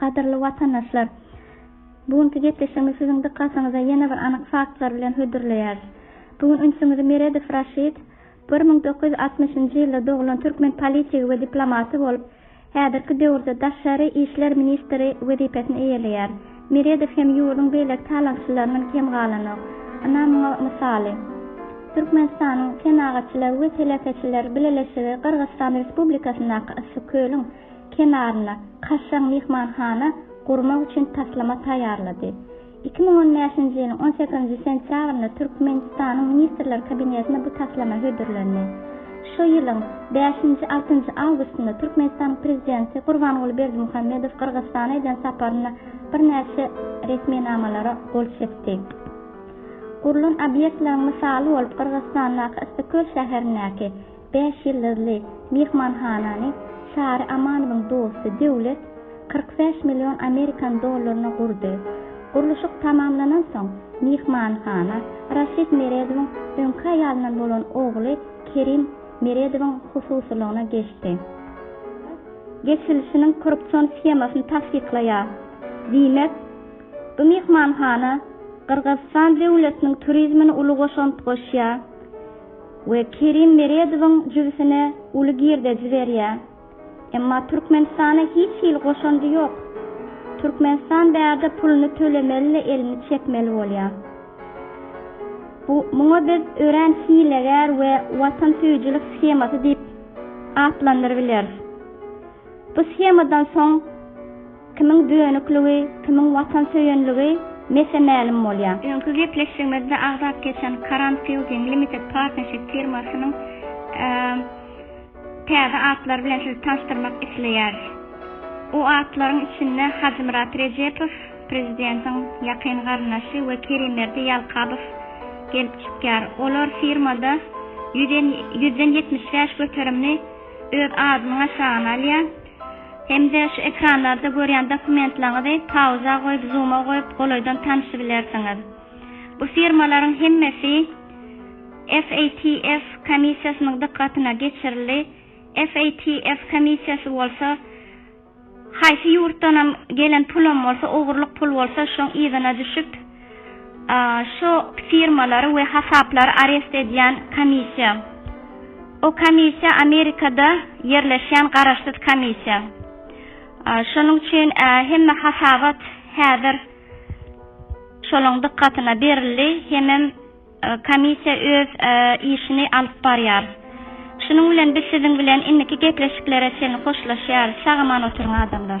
Gadyrly watandaşlar! Bu günki gepleşigimizi siziň dykgatyňyza ýene bir anyk faktlar bilen hödürleýäris. Bu gün ünsümizi Meredow Raşid, bir müň dokuz ýüz altmyşynjy ýylda doglan türkmen politigi we diplomaty bolup, Häzirki döwürde daşary işler ministri wezipesini eýeleýär. Meredow hem ýurduň beýleki talaňçylaryndan kem galanok. Ynha muňa mysaly. Türkmenistanyň Senagatçylar we telekeçiler bileleşigi Gyrgyzystan Respublikasyndaky Yssy kölüň kenarynda kaşaň myhmanhana gurmak üçin taslama taýýarlady. Iki müň on bäşinji ýylyň on sekizinji sentýabrynda Türkmenistanyň Ministrler Kabinetinde bu taslama hödürlendi. Şu ýylyň bäşinji, altynjy awgustynda Türkmenistanyň Prezidenti Gurbanguly Berdimuhamedow Gyrgyzystana eden saparynda birnäçe resminamalara gol çekdi. Gurlan obýektleriň mysaly bolup Gyrgyzystandaky Yssyköl şäherindäki, Bäş ýyldyzly myhmanhanany Çary Amanowyň dosty Döwlet kyrk bäş million amerikan dollaryna gurdy. Gurluşyk tamamlanansoň, myhmanhana Raşid Meredowyň öňki aýalyndan bolan ogly Kerim Meredowyň hususylygyna geçdi. Gaz geçirilişiniň korrupsion shemasyny tassyklaýar. Diýmek, bu myhmanhana Gyrgyzystan döwletiniň turizmine uly goşant goşýar. we Kerim Meredowyň jübüsine uly girdeji berýär. Emma Türkmenistana hiç hili goşandy ýok. Türkmenistan bärde puluny tölemeli-de elini çekmeli bolýar. Bu muňa biz örän hilegär we watansöýüjilik shemasy diýip atlandyrybileris. Bu shemadan soň. Kimiň dönükligi, kimiň watansöýenligi mese mälim bolýar. Öňki gepleşigimizde agzap geçen Karan Fielding Limited Partnership firmasynyň täze atlary bilen sizi tanyşdyrmak isleýäris. O atlaryň içinde Hajymyrat Rejepow, prezidentiň ýakyn garyndaşy we Kerimberdi Ýalkabow gelip çykýar. Olar firmada ýüzden ýetmiş bäş göterimini öz adynyň aşagyna alýar. Hem-de şu ekranlarda görýän dokumentlaňyzy pauza goýup zuma goýup golaýdan tanyşybilersiňiz. Bu firmalaryň hemmesi FATF komissiýasynyň dykgatyna geçirildi, FATF komissiýasy bolsa haýsy ýurtdanam gelen pulam bolsa ogurlyk pul bolsa şoň yzyna düşüp, Şu firmalary we hasaplary arest edýän komissiýa. O komissiýa Amerikada ýerleşýän garaşsyz komissiýa. Şonuň üçin hemme hasabat häzir şolaň dykgatyna berildi hemem komissiýa öz işini alyp barýar. Şunuň bilen biz siziň bilen indiki gepleşiklere çenli hoşlaşýarys. Sag-aman oturyň adamlar.